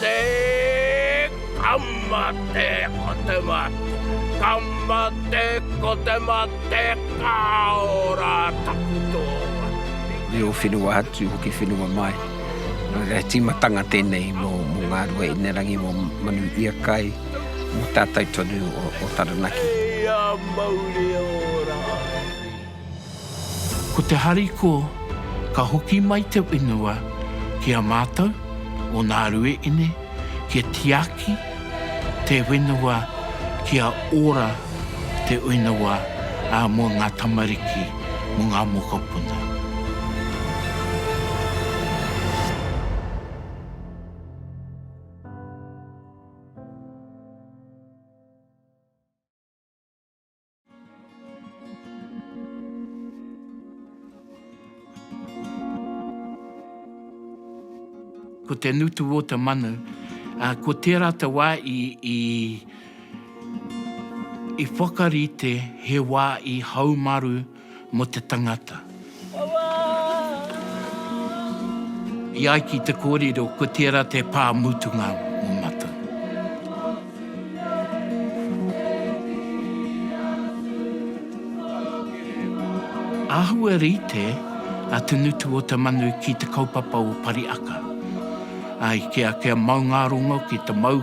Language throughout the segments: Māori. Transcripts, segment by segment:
Te Kamate ko te mate, Kamate ko te mate, ka ora taku tōnga. Reo whenua atu hoki whenua mai. He tīmatanga tēnei mō ngā rua inerangi, mō Manu Iakai, mō tātou tonu o Taranaki. Hei a mauri ora! Ko te hariko ka hoki mai te whenua ki a mātou o nā Rueine kia tiaki te whenua kia ora te whenua mō ngā tamariki, mō ngā mokopuna. Ko te nutu o te manu, ko tērā te wā i whakarite he wā i haumaru, mo te tangata. I ai ki te korero ko tera te pa mutunga mo matou. Ahua rite a Te Nutu-o-te-manu ki te kaupapa o Pariaka. Ai, kia, kia mau nga rongo ki te mau.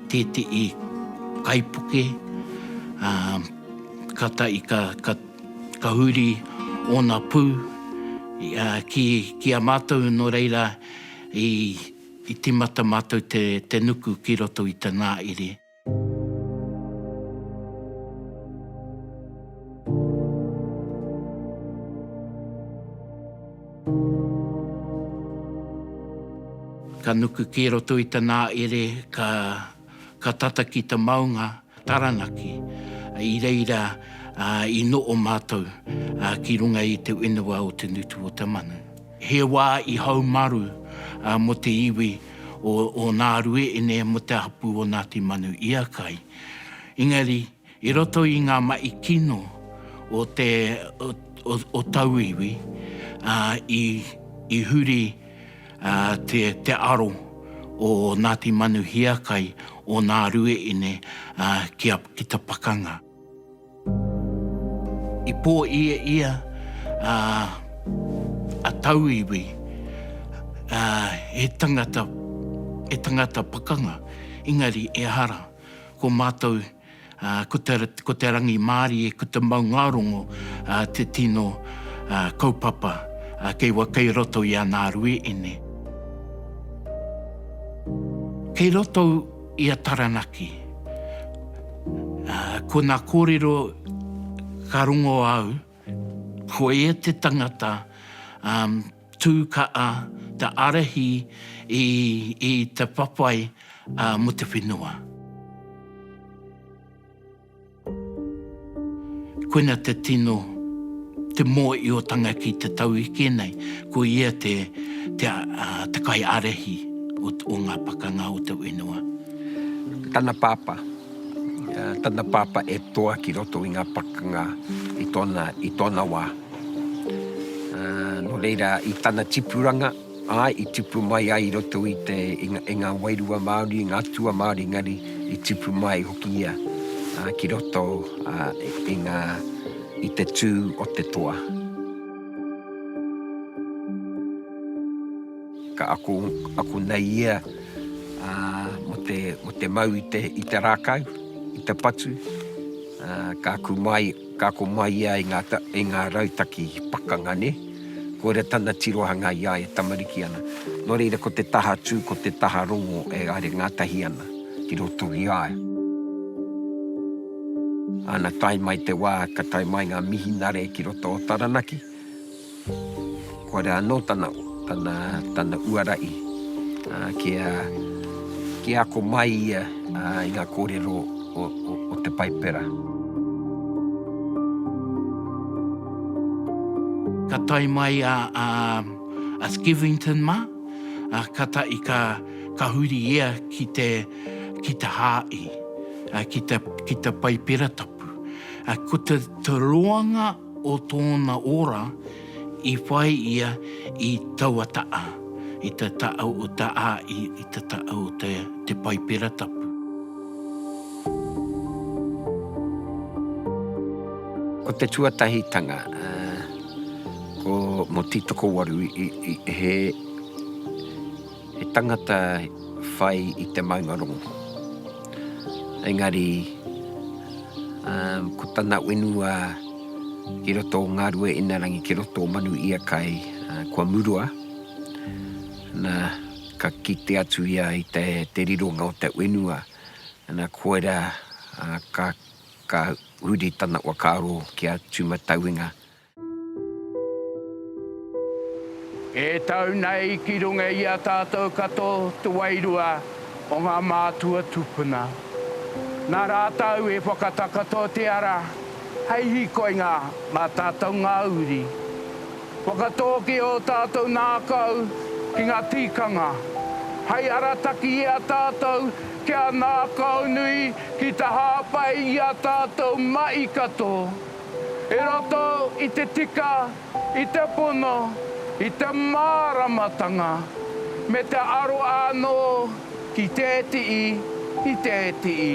Tētehi kaipuke, ā, kātahi i ka, ka, ka huri ōna pū, ā, ki, ki a mātou, nō reira, i, i tīmata mātou te, te nuku ki roto i te nāere. Ka nuku ki roto i tana ere ka tata ki ta maunga Taranaki i reira i noo matou ki runga i te wenua o te ngutu o te manu. He wa i haumaru mo te iwi o Naarueene mo te hapu o Ngati Manuiakai. Engari. I roto i ngā mahi kino o te o tauiwi, i huri te aro o Ngāti Manuhiakai, o Ngā Rueine ki ta pakanga. I pōieia a tauiwi he tangata pakanga, engari ehara. Ko mātou, ko te rangimārie, ko te maungārongo te tino kaupapa kei waka i roto i ana aruēne. Kei roto i a Taranaki, ko nā kōrero ka rongo au, ko ia te tangata, Tū kaha te ārahi i te whawhai mō te whenua. Koina te tino, te mōiotanga ki te tau eke nei, ko ia te kaiārahi o ngā pakanga o te whenua. Tana pāpā, tana pāpā e toa ki roto i ngā pakanga i tōna wā. Nō reira, i tana tipuranga, āe, i tipu mai ai i roto i te, i ngā wairua Māori, i ngā atua Māori, engari i tipu mai hoki ia ki roto i ngā, i te tū o te toa. Ka ako, ako nei ia mō te, mō te mau i te, i te rākau, i te patu, ka aku mai, Ka ako mai ia i ngā, i ngā rautaki pakanga, nē? Koira tana tirohanga i a ia e tamariki ana. Nō reira, ko te taha tū, ko te taha rongo e haere ngātahi ana ki roto i a ia. Ana tae mai te wā ka tae mai ngā mihinare ki roto o Taranaki, Koira anō tana, tana, tana uara i, ā, kia, kia ako mai ia, ā, i ngā kōrero o, o, o te Paipera. Ka tae mai a, a, a Skevington mā, ā, kātahi ka, ka huri ia ki te, ki te hāhi, ā, ki te, ki te Paipera tapu. Ā, ko te, te roanga o tōna ora i whai ia i taua ta'a, i te ta'a o te a'i, i te ta'a o te Paipera Tapu. Ko te tuatahitanga, ko Motitokowaru i he. He tangata whai i te maungarongo. Engari, ko tana wenua ki roto o Ngāruainarangi, ki roto o Manuiakai, kua murua. Na, ka kite atu ia i te rironga o te wenua. Na, koira ka huri tana whakaaro ki a Tūmatauenga. E tau nei ki runga i a tātou kato te wairua o ngā mātua tupuna. Nā rātou e whakatakoto te ara hei hīkoinga mā tātou ngā uri. Whakatōkia ō tātou ngākau ki ngā tīkanga, hei arataki i a tātou kia ngākaunui ki te hāpai i a tātou mahi kato. I roto i te tika, i te pono, i te māramatanga, me te aro ānō ki te tii, i te tii.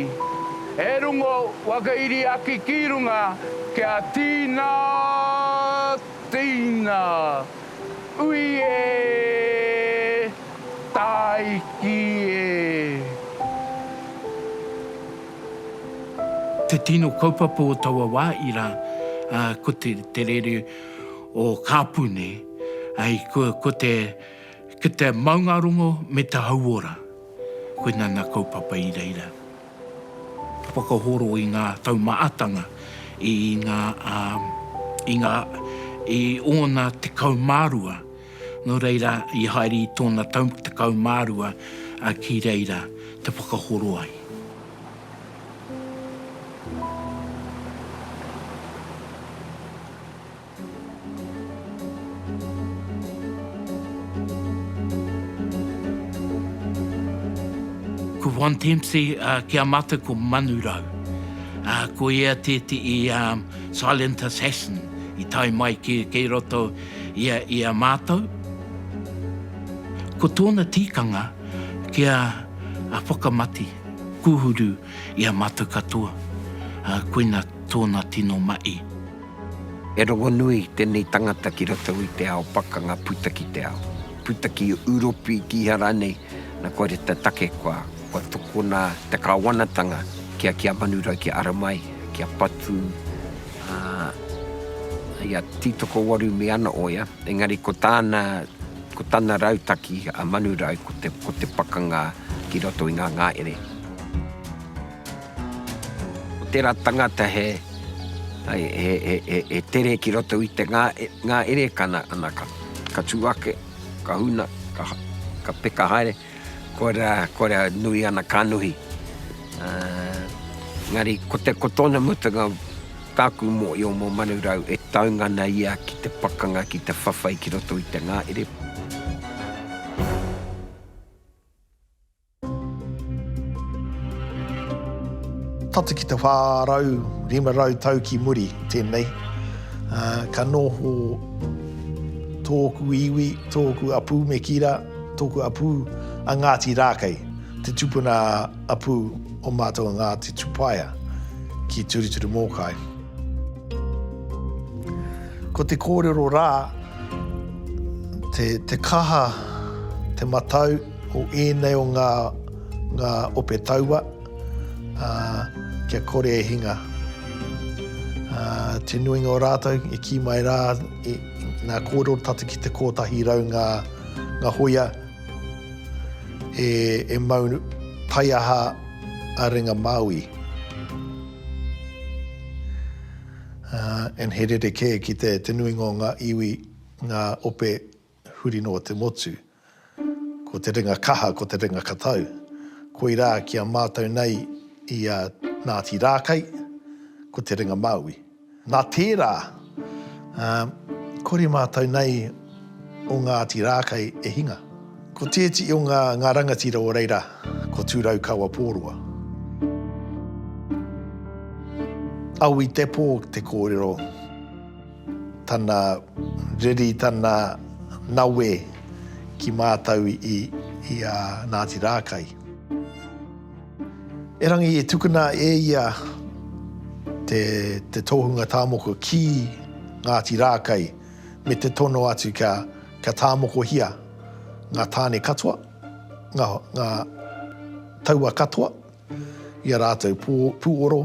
E rungo whakairiaki ki runga kia tīnā, tīnā. Ui e! Tāiki e! Te tino kaupapa o taua wā ira, ko te rere o Kāpune, ko te maungarongo me te hauora. Koina nā kaupapa i reira. Whakahoro i ngā taumaatanga i ngā, i ngā, i ōna tekau mā rua. Nō reira, i haere i tōna tau tekau mā rua ki reira te whakahoro ai. Ko Juan Dempsey ki a mātou ko Manu Rau. Ko ia tētehi silent assassin i tae mai ki roto Ia i a mātou, ko tōna tīkanga kia whakamati, kūhuru i a mātou katoa, koina tōna tino mahi. He rongonui tēnei tangata ki roto i te ao pakanga puta ki te ao puta ki Uropi, kīhā rānei, nā kore te take kua. Kua tukuna te Kāwanatanga ki a Kia Manurau, ki a Aramai, ki a Patu, ā, hei a Tītokowaru me ana oea, engari ko tāna, ko tana rautaki a Manurau ko te, ko te pakanga ki roto i ngā ngaere. Ko tērā tangata he, he, he, he, he, he tere ki roto i te ngā, ngaere, ka, na, ana ka, ka tū ake, ka huna, ka, ka peka haere. Koira, koira nui ana kanohi. Engari, ko te, ko tōna mutunga, tāku mōio mō Manurau e taunga ana ia ki te pakanga, ki te whawhai ki roto i te ngahere. Tata ki te 400, 500 tau ki muri tēnei, ka noho tōku iwi, tōku a Pūmekira, Tōku apū a Ngāti Rākei, te tupuna apū o mātou a Ngāti Tupaea ki Turituri Mōkai. Ko te kōrero rā, te kaha, te matau o ēnei o ngā ope taua. Ā, kia kore e hinga. Ā, te nuinga o rātou i kī mai rā, i, nā, kōrero tata ki te kōtahi rau ngā, ngā hoia e, e mau taiaha a ringa Māui. Ā, and he rerekē ki te, te nuinga o ngā iwi, ngā ope Huri noa te motu. Ko te ringa kaha, ko te ringa katau. Koirā ki a mātou nei i a Ngāti Rākai, ko te ringa māui. Nā tērā, kore mātou nei o Ngāti Rākai e hinga. Ko tēti o ngā rangatira o reira, ko Tūraukawa Pōroa. Aui te pō te kōrero. Tana reri, tana nawe ki mātou i a Ngāti Rākai. Erangi e tukuna e ia te tohunga tāmoko ki Ngāti Rākai me te tono atu kia tāmokohia ngā tāne katoa, ngā taua katoa i a rātou pūoro.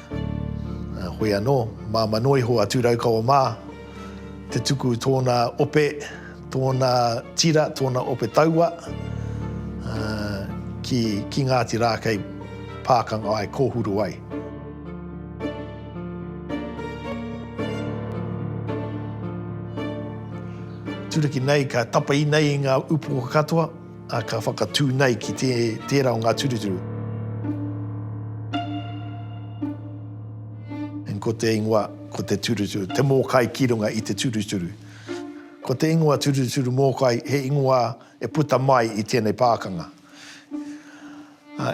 Heoi anō, māmā noa iho a Tūraukawa mā te tuku tōna ope, tōna tira, tōna ope taua ki Ngāti Rākei, pākanga ai, kōhuru ai. Turaki nei, ka tapahi nei i ngā upoko katoa. A ka whakatū nei ki te, tērā o ngā turuturu. And ko te ingoa, ko te turuturu, te mōkai ki runga i te turuturu. Ko te ingoa turuturu mōkai, he ingoa e puta mai i tēnei pākanga,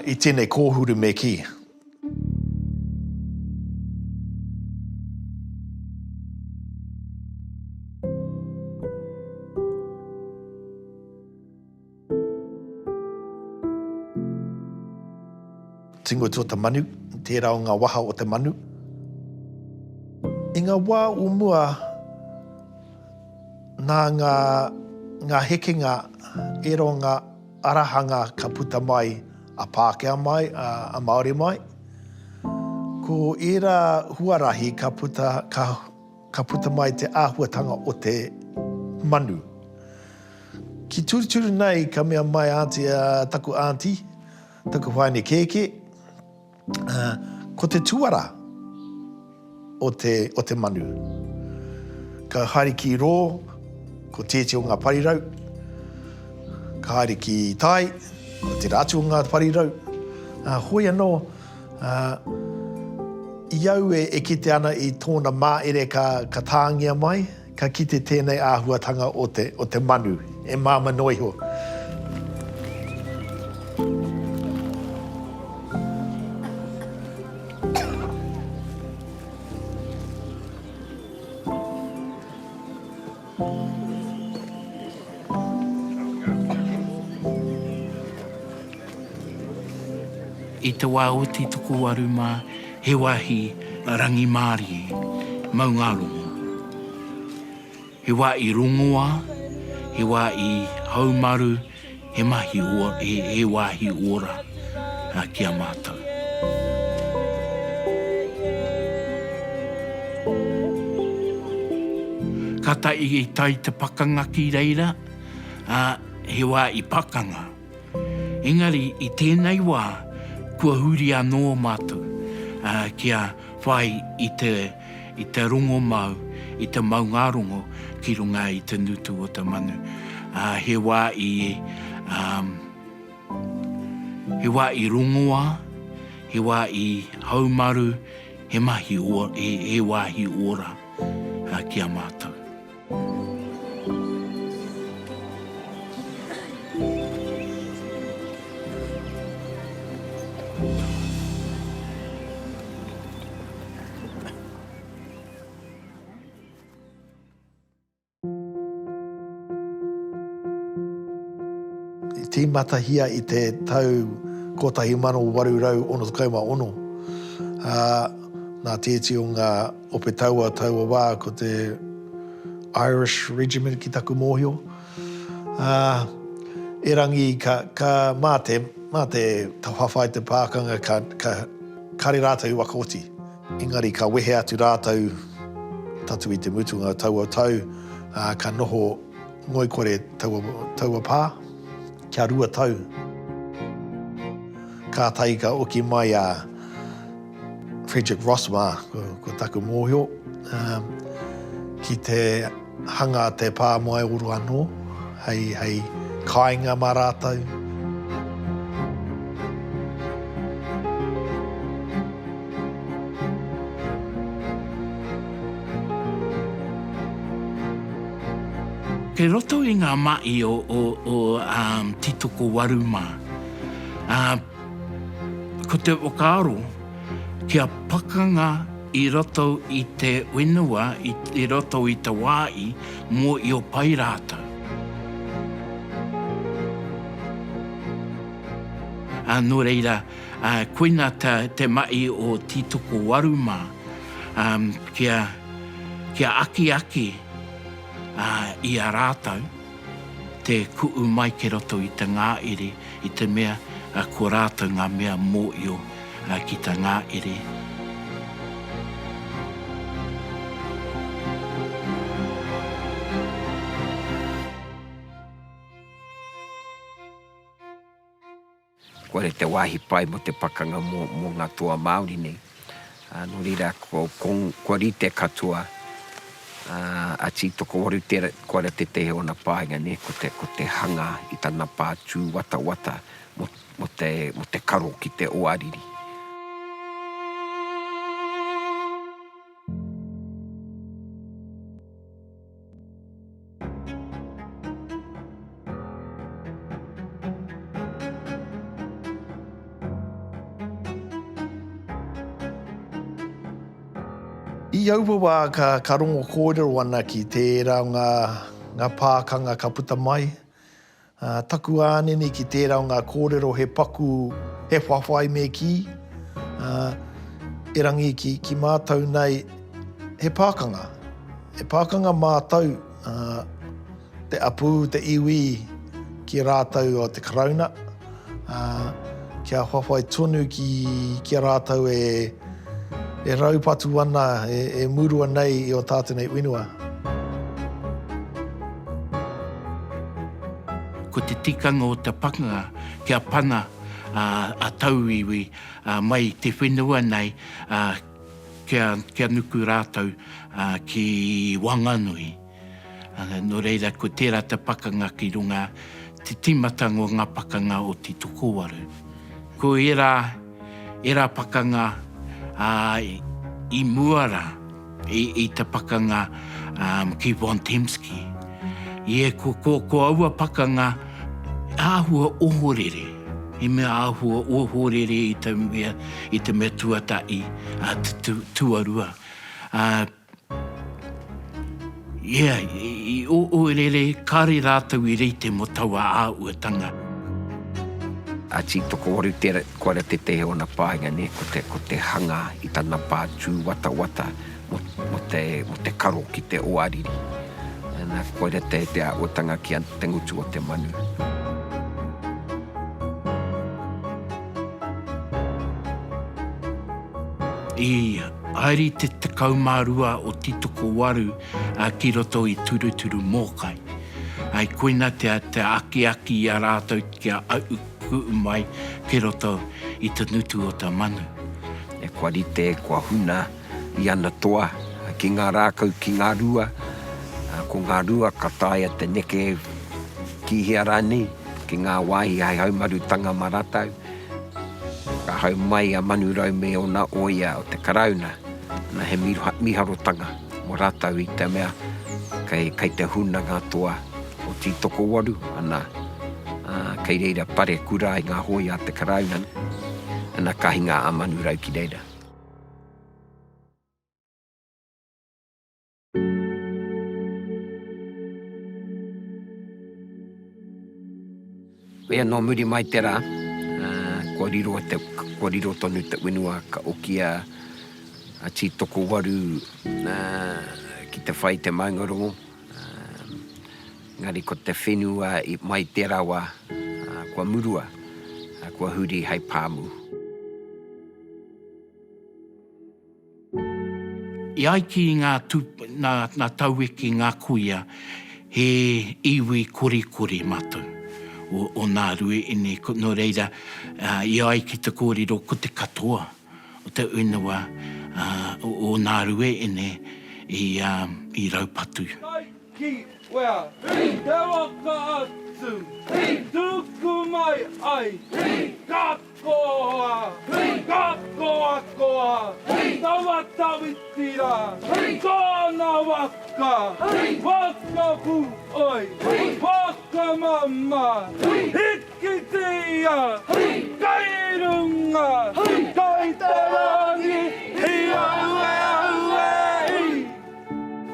i tēnei kōhuru me kī. Tingut o te manu, tērā o ngā waha o te manu. I ngā wā o mua, nā ngā hekenga, ērā o ngā. Ara hanga ka puta mai a Pākehā mai, a Māori mai. Ko ērā huarahi ka puta, ka, ka puta mai te āhuatanga o te manu. Ki turuturu nei ka mea mai a Aunty, a taku Aunty, taku whaene kēkē, Ko te tuara o te, o te manu. Ka haere ki rō, ko te iti o ngā parirau. Ka haere ki tai, ko tera atu o ngā parirau. Ā, hoi anō, ā, i au e, e kite ana i tōna māere ka, ka tāngia mai, Ka kite tēnei āhuatanga o te, o te manu e māmā noa iho. I te wā oti tokowaru mā, He wāhi rangimārie, maungārongo. He wā i rongoā, he wā i haumaru, he mahi ō, he, he wāhi ora ki a mātou. Kātahi i tae te pakanga ki reira, ā, he wā i pakanga. Engari i tēnei wā kua huri anō mātou kia whai i te i te rongomau, i te maungārongo ki runga i te ngutu o te manu. He wā i he wā i rongoā, he wā i haumaru, he mahi he wāhi ora ki a mātou. I tīmatahia i te tau 1866, ā, nā te iti o ngā. Ope taua taua wā ko te Irish Regiment ki taku mōhio. Ā, erangi ka, ka, mā te, mā te whawhai te pākanga ka, ka, kare rātou i waka oti. Engari ka wehe atu rātou tatu i te mutunga o taua tau, ā, ka noho ngoikore taua, taua pā kia rua tau. Kātahi ka oki mai a. Frederick Ross mā, ko, ko taku mōhio, um, ki te hanga a te pā moe oro anō, hei, hei kāinga mā rātou. Kei roto i ngā maʻi o, o, o um, Titokowaru mā. Uh, Ko te whakaaro, kia pakanga i roto i te whenua, i roto i te wā i, mō i o pai rātou. Ā, nō reira, ā, koina te, te mahi o Tītokowaru mā, ā, kia, kia akiaki, ā, i a rātou. Te ku'u mai kei roto i te ngāere i te mea ko rātou ngā mea mōio ki tā ngāere. Kore te wāhi pai mo te pakanga mo mo nga toa Māori nei. No reira ko kua rite katoa a Tī Tokowaru tera kore tetehe ona painga ne ko te ko te hanga i tana pa tu watawata mo mo te mo te karo ki te oariri. I aua wā ka, ka rongo kōrero ana ki tērā o ngā, ngā pākanga ka puta mai, Ā, taku ānene ki tērā o ngā kōrero he paku, he whawhai me kī, ā, erangi ki, ki mātou nei, he pākanga. He pākanga mātou, ā, te apū, te iwi ki rātou o te Karauna. Ā, kia whawhai tonu ki, ki a rātou e, e raupatu ana, e, e murua nei i ō tātou nei whenua. Ko te tikanga o te pakanga kia pana a tauiwi mai i te whenua nei kia nuku rātou ki Wanganui. Nō reira, ko tērā te pakanga ki runga, te tīmatanga o ngā pakanga o te tokowaru. Ko ērā, ērā pakanga, ā, i mua rā i, i te pakanga, ā, ki Von Tempsky. Ie, ko, ko, ko aua pakanga āhua ohorere, he mea āhua ohorere i te mea, i te mea tuatahi, ā, tu, tu, tuarua. Ā. Ia, i ourere, kāre rātou i reite mō taua āhuatanga. Ati tokowaru tera, kua ra tetehi ona painga ne, ko te, ko te hanga i tana pa tuwatawata mo, mo te, mo te karo ki te oariri. Na, koira te, te ahuatanga ki a te ngutu o te manu. I haere te 12 o Titokowaru ki roto i Turuturu Mōkai. Koina te akiaki i a rātou kia ahu ku'u mai ki roto i te ngutu o te manu. Kua rite, kua huna. i ana toa, ki ngā rākau, ki ngā rua, ko ngā rua ka taea te neke ki hea rānei, ki ngā wāhi hai haumarutanga mā rātou. Ka hau mai a Manurau me ōna oia o te Karauna, na he miharotanga mō rātou i te mea kei, kei te huna ngā toa o Tītokowaru, ana, kei reira parekura i ngā hōia a te Karauna, ana, ka hinga a Manurau ki reira. Koia nō muri mai te rā, kua riro, kua riro tonu te whenua ka okia a Tītokowaru ki te whai te maungarongo, engari ko te whenua i mai te rawa kua murua, kua huri hei pāmu. I ai ki ngā taue ki ngā kuia, he iwi korikori mātou o nā rue ine, nō reira i ai ki te kōrero ko te katoa o te whenua o nā rue ine i raupatu. Ki wea? Ki te waka atu. Ki tuku mai ai. Ki ka koa. Ki ka koa koa. Ki tawa tawiti ra. Ki tona waka. Ki waka pu oi. Ki waka mama. Ki hiki ki a. Ki kai runga. Ki kai te rangi. Hi au e au e i.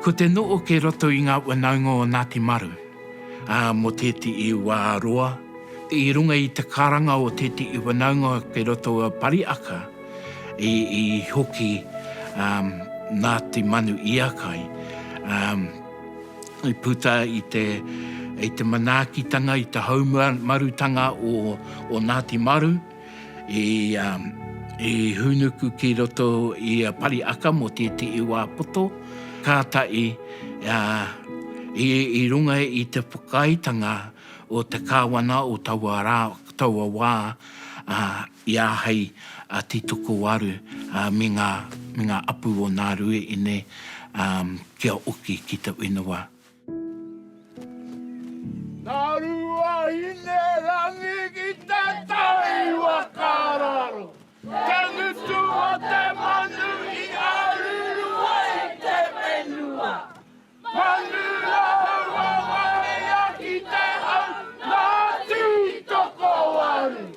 Ko te noo kei roto i nga whanaunga o Ngati Maru, a mo teetii wa roa, i runga i te karanga o teetii whanaunga kei roto o Pariaka, i hoki Ngati Manu Iakai, i puta i te manaakitanga, i te haumarutanga o Ngati Maru. i hūnuku ki roto i a Pariaka mō tētehi wā poto, kātahi i runga i te whakaaetanga o te Kāwana o taua rā, taua wā, i āhei a Titokowaru me ngā, me ngā apu o Nārue inei kia oki ki te whenua. Nā Ruahine rangi ki te takiwa ka raro Te ngutu o te manu i aruru ai te whenua Manu rāua warea ki te hau nā tū toko waru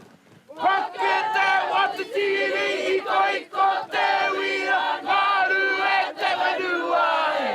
Whake te watitiri ikoiko te wira ngaru e te whenua e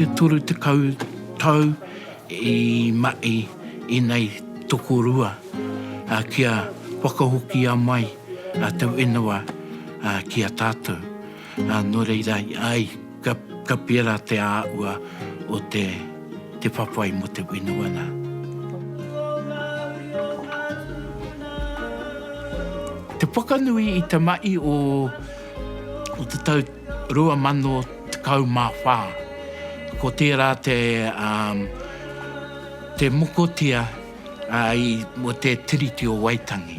E toru tekau tau i mahi i nei tokorua kia whakahokia mai tau ingoa ki a tatou. Nō reira, āe, ka pērā te āhua o te whawhai mō te whenua nā. Te whakanui i te mahi o te tau 2014, ko tērā te mokotia mō te Tiriti o Waitangi.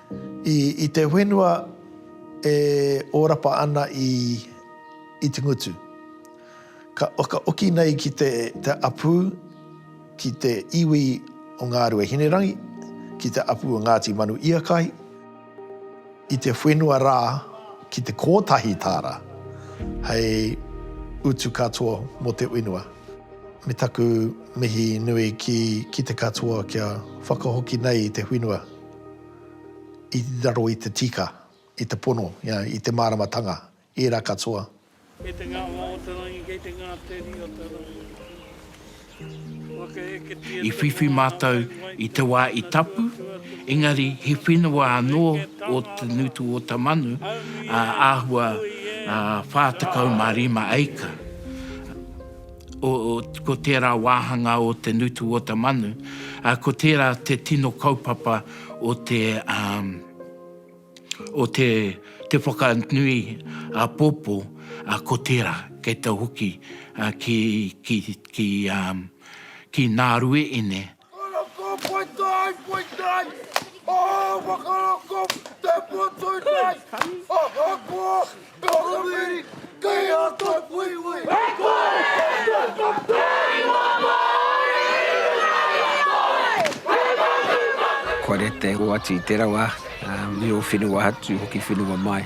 I te whenua e ōrapa ana i Itingutu, ka whakaoki nei ki te apu ki te iwi o Ngārue Hinerangi, ki te apu o Ngāti Manu Iakahi, i te whenua rā ki te kōtahi tāra hei utu katoa mō te whenua. Me taku mihi nui ki te katoa kia whakahoki nei i te whenua. i raro i te tika, i te pono, i te māramatanga, ērā katoa. Kei te ngāwhā o te rangi, kei te ngāteri o te rangi. Whakaheketia te whai mātau ki wai te wā i tapu, engari he whenua anō o Te Nutu-o-Tamanu, āhua 45 acre. Ko tērā wāhanga o te ngutu o te manu, ko tērā te tino kaupapa o te o te te whakanui apōpō, ko tērā kei te hoki ki ki ki ki Nārueine Kua rite hoatu i te rawa, i o whenua atu hoki whenua mai.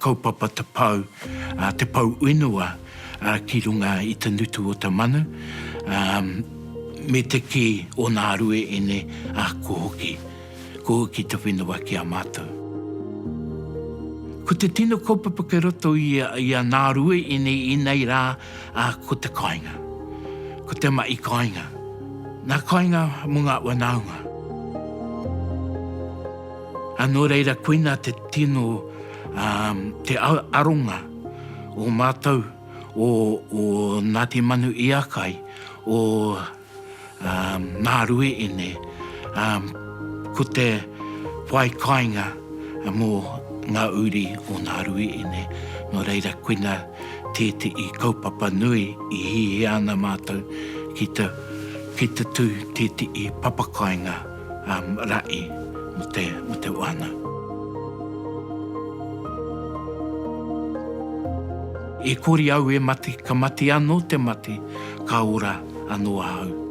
Kaupapa te pou, te pou whenua ki runga i te nutu o te manu, me te kī o nā rueene, ko hoki, ko hoki te whenua ki a mātou. Ko te tino kaupapa kei roto i a nā rueene i nei rā, ko te kāinga, ko te mahi kāinga, nā kāinga mō ngā whanaunga. A nō reira koina te tino, te aronga o mātou, o Ngāti Manuiakai, o Ngāruiine, ko te whai kāinga mō ngā uri o Ngāruiine. Nō reira koina tētehi kaupapa nui i hihia ana mātou ki te tū tētehi papakāinga. um, ra'i mo te, mo te wana. E kori au e mate, ka mate ano te mate, ka ora ano ahau.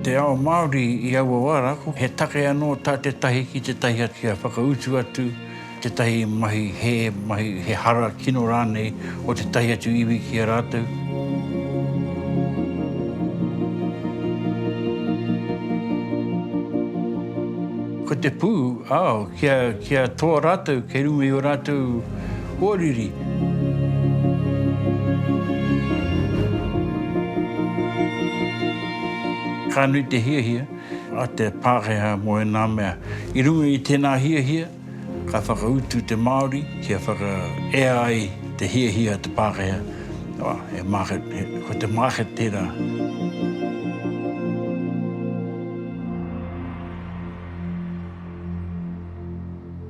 Te ao Māori i aua wā rākau, he take anō tā tētahi ki tētahi atu kia whakautu atu tētahi mahi hē, mahi he hara kino rānei o tētahi atu iwi ki a rātou. Ko te pū, ao, kia, kia toa rātou kei runga i ō rātou Kua riri. Ka nui te hiahia a te Pākehā mō ēnā mea. I runga i tēnā hiahia, ka whakautu te Māori kia whakaea ai te hiahia a te Pākehā, he market, ko te market tērā.